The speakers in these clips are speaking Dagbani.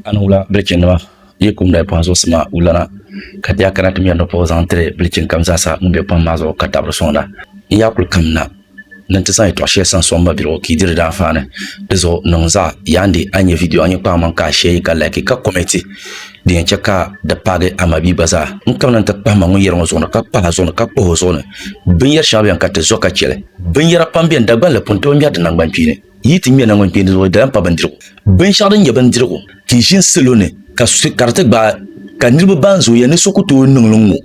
A ni wula bilichinnima yi kum dali pɔhim zuɣusi maa wulana, ka di yaa kana ti mɛri nɔpɔgu zaŋ tiri bilichin kam zaasa ŋun be pɔhim maa zuɣu ka dabiri sɔŋda. N yaa kul kam na ni nti zaŋ yɛtɔɣ shɛli san sɔŋ mabiligu ka yi di di daanfaani. Di zuɣu niŋ zaɣ yaa n-di a ni nya vidiyo a nyin kpaŋ maŋ ka a shɛɛ yi ka laiki ka kɔmɛnti din yɛn chɛ ka di paagi a mabia gba zaa. N kamina nti kpahi ma ŋun yɛri ŋɔ zuɣu ni ka kpahi a zuɣu ni ka kpuhi o zuɣu ni. Binyɛr shɛŋa beni ka ti zo ka chɛ li. Binyɛra pam beni Dagbanli pun tooi mɛri di naŋgbankpiini. Yi ti ŋmɛ naŋgbankpeendirigu di lahi pa bindirigu. Binshɛɣu din nyɛ bindirigu ti ʒini salo ni ka ka di ti gbaai ka niriba ban zooiya ni so ku tooi niŋ li ŋ-ŋɔ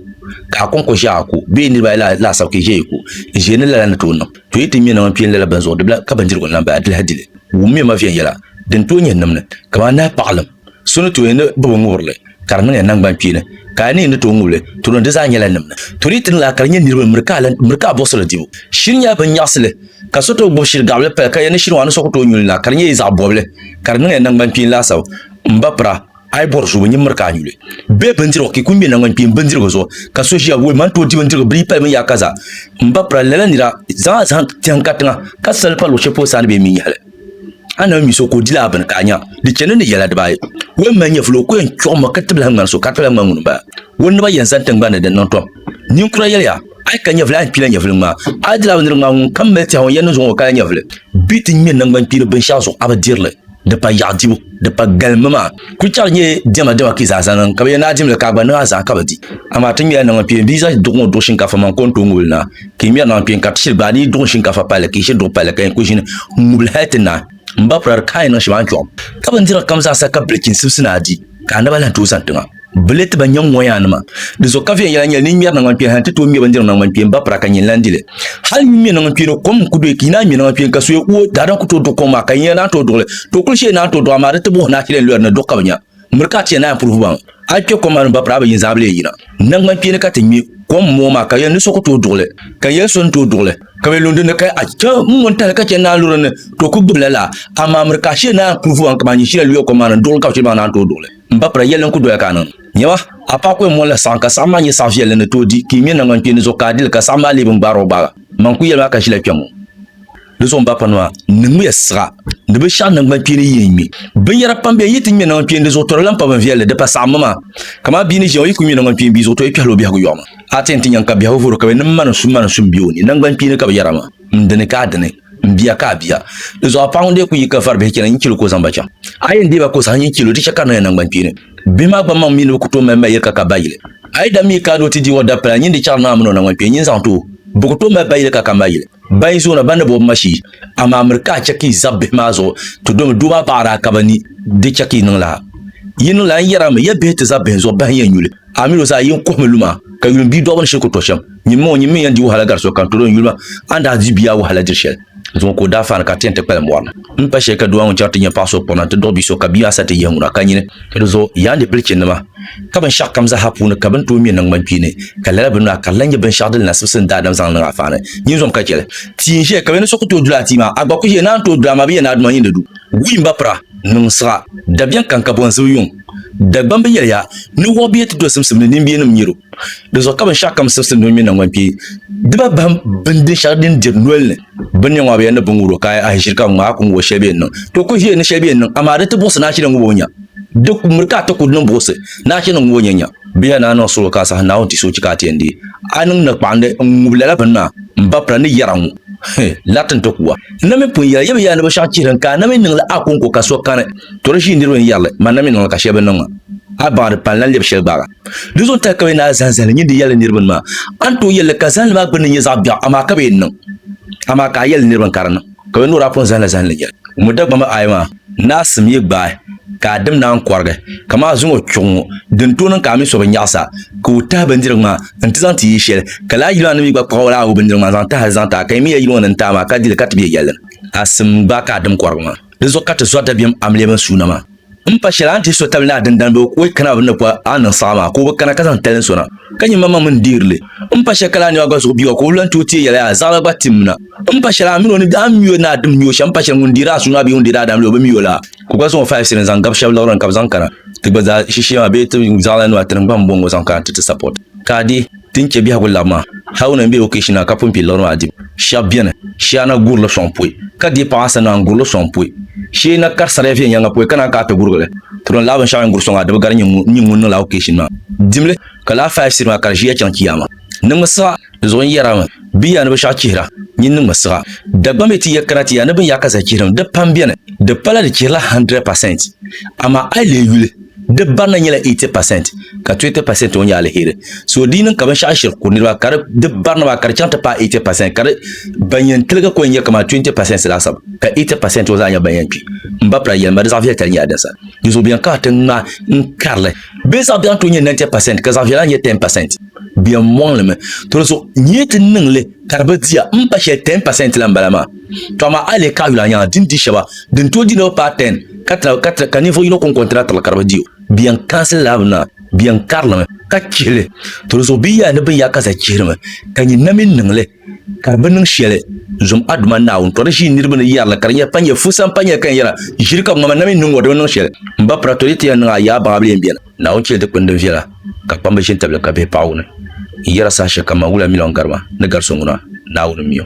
ka a kɔŋko ʒe a ku bee niriba ayi laasabu ka yi ʒe yi ku n-ʒe ni lala ni tooi niŋ to yi ti ŋmɛ naŋgbankpeen lala bini zuɣu di bi lahi ka bindirigu n-lahi baai di lahi dili wummiya ma viɛnyɛla din tooi nyɛ nimni kamani nahi paɣilim So ni tooi ni bi bi ŋubiri li, ka di niŋ ya naŋgban kpeeni, ka a ni yi ni tooi ŋubi li, tulim di zaa nyɛla nimdi. Tuli ti niŋ a ka di nyɛ niriba ni miri ka a buɣisiri dibu. Shiri nyɛla bin nyaɣisi li, ka so tooi gbubi shiri gaɣibili paya ka ya ni shiri ŋɔ a ni soku tooi nyu li na, ka di nyɛ yi zaɣ bɔbili, ka di niŋ ya naŋgban kpeeni laasabu. M ba pira, a yi bɔri zoobu, nyin miri ka a nyu li. Bee bindirigu, ka yi kul ŋme naŋgban kpeeni bindirigu zuɣu, ka so ʒiya, Woi, man tooi di bindirigu bili yi pali binyahaka zaa. M ba pira, lala nira, zaŋ a zahim tɛhim ka tiŋa, ka sal li pa luɣ shɛli polo saa ni bɛ yi mi nyɛhi li. a ni mi so ka o di laa bini ka a nya di chani ni yɛla dibaayi. O yɛn mali nyɛvili o ko yɛn chuɣi ma ka tibi lahi ŋmani so ka di ka lahi ŋmani ŋuni m-bala. O naba yɛn zani tiŋgbani ni din niŋ tom. Ninkura yɛliya, A yi ka nyɛvili a ni kpila nyɛvili ŋmaa. A di laa bindirigu ŋmaa ŋunkam mali tɛhigu yɛn ni zuŋɔ o kala nyɛvili. Bɛ ti ŋme naŋgbankpeeni binshɛɣu zuɣu a bi diri li. Di pa yaɣu dibu, di pa galim mi maa. Kulichɛɣu di nyɛ dɛma dɛma ka yi zaa zaŋ niŋ ka bɛ yɛn ni a dimli ka a gba niŋ a zaa ka bɛ di. Amaa ti ŋmela naŋgbankpeeni bia zaŋ duɣu ŋɔ duɣi shinkaafa maŋ ka o ni tooi ŋubili na. Ka yi ŋmɛri naŋ kpɛ ka ti shiri gbaai ni yi duɣi shinkafa palli ka yi shiri duɣi palli ka yi ku ʒini ŋubili hali ti naai n ba pura di ka a yi niŋ shɛm a ni chɔɣim. Ka bindirigu kam zaa sa ka bilichini sibisi ni a di ka a naba lahi tooi zani tiŋa. Bɛ leei ti ba nyɛm ŋɔ yaa nima. Di zuɣu ka viɛnyɛla nyɛli ni yi ŋmɛri naŋgban kpeeni hali ti tooi ŋmɛ bindirigu naŋgban kpeeni ba pura ka nyini lahi di li. Hali yi ŋmɛ naŋgban kpeeni kom n ku doyi ka yi naai ŋmɛ naŋgban kpeeni ka so ya uo daadam ku tooi duɣi kom maa ka yi ni yɛn naai tooi duɣi li too kuli shee yi naai tooi duɣi amaa di ti buɣi naashili n lɔri ni duɣu ka bɛ nya. Miri ka a ti yɛn naai puri vubaŋ, a yi kpe kom maa ni ba piri a bi yin zaa bi lee yina. Naŋgban kpeeni ka ti ŋme kom moo maa ka yɛli ni so ku tooi duɣili, ka yɛli so ni tooi duɣili, ka be lu din ni ka a chɛ ŋun tahili ka chɛ naanluri ni ka o ku gbibi la laa. Amaa miri ka a shee naai puri vubaŋ kaman nyini shili a luya kom maa ni duɣili ka bi chɛ ba naan tooi duɣili. M ba pira, yɛlli n-ku doya ka a niŋ. Nyama, a paai kuya mɔni la saɣim ka saɣim maa nyɛ saɣ viɛlli ni tooi di, ka yi ŋme naŋgban kpeeni zuɣu ka a di li ka saɣim maa lee bi ni gbaar o gbaaga. Man ku yɛli ma a ka ʒila kpɛŋ ŋɔ. Di zuɣu n ba kpanima niŋmiya siɣa ni bi shɛɣu nangbani kpeeni yi n ŋme binyɛra pam bɛ yi ti ŋme nangbani kpeeni di zuɣu tɔri lan pa bin viɛlli di pa saɣimmi maa kamaa bia ni ʒiya o yi ku ŋme nangbani kpeeni bia zuɣu to yi kpɛhila o biɛhigu yɔɣu maa a ti yɛn ti nyaŋ ka biɛhigu vuri o ka bɛ ni mani su mani su m-be o ni nangbani kpeeni ka bɛ yɛra maa m dini ka a dini m bia ka a bia di zuɣu a paɣa ŋun dee ku yi ka vari bihi chana nyin chɛli o ka o zaŋ ba chaŋ a yɛn deei ba ka o saha nyin chɛli o di chɛ ka niŋya nangbani kpeeni bihi maa gba maŋ mi ni bɛ ku tooi mali ba yili ka ka ba yili a yi daa mi kaad o ti di o dabipila nyin di chɛɣiri naa mini o nangbani kpeeni nyin zaŋ ti o bɛ ku tooi mali ba yili ka ka m ba yili. Ba yi zoona ba ni bobi ma shee, amaa miri ka a chɛ ka yi zab bihi maa zuɣu, ti domi doo maa paɣiri a ka ba ni di chɛ ka yi niŋ lala. Yi niŋ lala n-yɛri a mi, ya bihi ti zab bihi zuɣu bahi n-yɛn nyu li, amil o zaa yi n-kuhi mi luma, ka yuli m biidɔbiri ni shiri ku tɔ shɛm. Nyimmi ŋɔ, nyimmi n-yɛn di wahala gari so kam, tɔdɔɔ n yuli ma, a ni daa di bia wahala diri shɛli zuŋɔ ka o daa faani ka a ti yɛn ti kpalim bɔri ni m pa shɛli ka doo maa ŋun chaŋ ti nya paɣ so kpɔrina nti duɣi bi so ka bia maa sa ti yihi ŋuna ka nyini Ka di zuɣu yaa ni bilichinnima, ka binshɛɣu kam zaaha puuni ka bini tooi ŋme naŋgbankpeeni, ka lala bini maa ka di lahi nyɛ binshɛɣu din nasibisi ni daadam zaŋ niŋ a faani. Nyinzom ka chɛli. Tia n-ʒeya ka bɛ ni so ku tooi dula a tia maa, a gba ku ʒeya ni a ni tooi dula a maa bɛ yɛn ni a duma yi ni du. Wuy m ba pira, niŋ siɣa, dabiɛŋ kaŋ ka bonzibu yuŋ. Dagbamba yɛli ya, ni wɔɣ bia ti do simsim ni nimbiɛnim nyɛro. Di zuɣu ka binshɛɣu kam sibisi ni di ŋme naŋgbankpee, di ba bahim bindin shɛli din diri nol ni. Bin nya ŋɔ bɛ yɛn ni biŋ wuro ka a ʒiri ka ŋ a ku ŋubo shɛli bɛ yɛn niŋ. To ku ʒiri ni shɛli bɛ yɛn niŋ, amaa di ti buɣisi ni a ʒiri ŋubo nya. Di ku miri ka a ti ku di ni buɣisi ni a ʒiri ŋubo nya nya. Bɛ yɛn ni a niŋ suɣulo ka a sahi Naawuni ti so chi ka a ti yɛn deei a niŋ ni kpaɣindi n ŋubi lala bini maa m ba pira ni yɛra ŋɔ hi lariti n ti ku a. N na mi pun yɛli yɛm yɛla ni bɛ shɛŋa chihiri n ka a na mi niŋ li a kɔŋko ka so kani. To di ʒii niriba n yɛri li, man na mi niŋ li ka shɛli bi niŋ ma. A baŋdi pani lan lɛbi shɛli gbaaga. Di zuɣu tahi ka bɛ naa zaŋ zahili nyindi yɛli niriba ni maa, a ni tooi yɛli li ka zahili maa gbinni nyɛ zaɣ biɛɣu, amaa ka bɛ yɛn niŋ. Amaa ka a yɛli niriba ni ka di niŋ, ka bɛ ni o daa pun zahila zahindi yɛli. Ŋun Dagbamba ayi maa naa sim yi gbaai ka a dim naan kɔrigi, ka maa zuŋɔ chuɣu ŋɔ, din tooi niŋ ka a mi so bi nyaɣis a, ka o tahi bindirigu maa n-ti zaŋ ti yi shɛli, ka lala yili maa nim yi gba kpuɣi lala o bindirigu maa zaŋ tahili zaŋ ti a, ka yi mi ya yili ŋɔ ni n-taai maa ka di li ka ti be yɛlli ni a sim gbaai ka a dim kɔrigi maa. Di zuɣu ka ti zɔri dabiɛm amiliya bɛn suuna maa. M pa shɛli a ni ti so tabili ni a dindani bɛ o kana bɛ ni po a niŋ saɣa maa ka o bi kana ka zaŋ talin sona ka nyin manmaŋ mi n-deeri li. M pa shɛli ka laa niɔ a gba zuɣu biua ka o lan ti o teei yɛli yaa, zaɣila gba tim na. M pa shɛli a mini o ni daa mi o ni a dim niɔ shɛm m pa shɛli ŋun deeri a sua maa bee ŋun deeri a daam la o bi mi o la ka o gba zaŋ o five cents zaŋ gabi shɛb liɣiri ni ka bɛ zaŋ kana ti gba zaa shishee maa bee ti zaɣila nuu a tinim gba m-bɔŋɔ zaŋ kana ti ti support ka a deei Ti ni chɛ biɛhigu lab maa, Haruna n-be okeeshi na ka pun kpi liɣiri maa dibu. Shɛb beni, shee a na gur li sɔŋ pɔi, ka deei paɣ a sani maa n-gur li sɔŋ pɔi. Shee n na kari sariya viɛnyɛliŋga pɔi ka naan ka a ti gurgi li. Turim lala binshɛɣu yɛn gur sɔŋ a dibu gari nyin ŋun niŋla okeeshin maa dimli, ka lahi faai siri maa ka di ʒiya chaŋ kiyaama. Niŋmi siɣa di zuɣu n-yɛrimi, Bɛ ya ni bɛ shɛɣu chihira, nyin niŋmi siɣa. Dagbaŋ mi ti ya kana ti ya ni bɛ ni yaai ka zahi chihirim, di pam beni, di pala di chihirila hundred percent. Amaa a yi leei yuli. Di barina nyɛla 80% ka 20% ŋɔ nyɛ aliheri. So di yi niŋ ka binshɛɣu shiri ku niriba ka di barina maa ka di chaŋ ti paai 80% ka di ban yɛn tiligi ku nyɛ kamani 20% laasabu ka 80% ŋɔ zaa nyɛ ban yɛn kpi. M ba Pira yɛlima di zaɣ'viɛlitali nyɛla din sa di zuɣu bɛ yɛn kana ti ŋma n karili. Bɛ zaɣ'biɛɣu n-tooi nyɛ 90% ka zaɣ'viɛla nyɛ 10%. Bɛ yɛn mɔŋlimi. Tɔli zuɣu nyee ti niŋ li ka di bi diya m ba shɛli 10% la m bala maa. to amaa a yi lihi kaɣayuli a nyaŋa din di shɛba din tooi di niriba paai tɛn ka tira ka ninvuɣ yino kɔŋko n-tiri a tibili ka di bi di o bɛ yɛn kansili lala bini maa bɛ yɛn karilimi ka chihi li to di zuɣu bɛ yɛli ni binyɛra ka zali chihirimi ka nyin na mini niŋ li ka di bi niŋ shɛli zom a Duuma Naawuni to di ʒii niriba ni yɛri li ka di nyɛ panyɛ fusa m-panyɛ ka yɛn yɛra ʒiri ka ŋɔ ma na mini niŋ ŋɔ di bi niŋ shɛli m ba pira to di ti yɛn niŋ a yaai baŋa bɛ lee m-beni Naawuni chɛli dikpini din viɛla ka kpamba ʒi n-tabili ka bihi paɣi o ni. N yɛra saha shɛli kam maa, wula miliɔn gari ma ni gari so ŋuna, Naawuni m-mi o.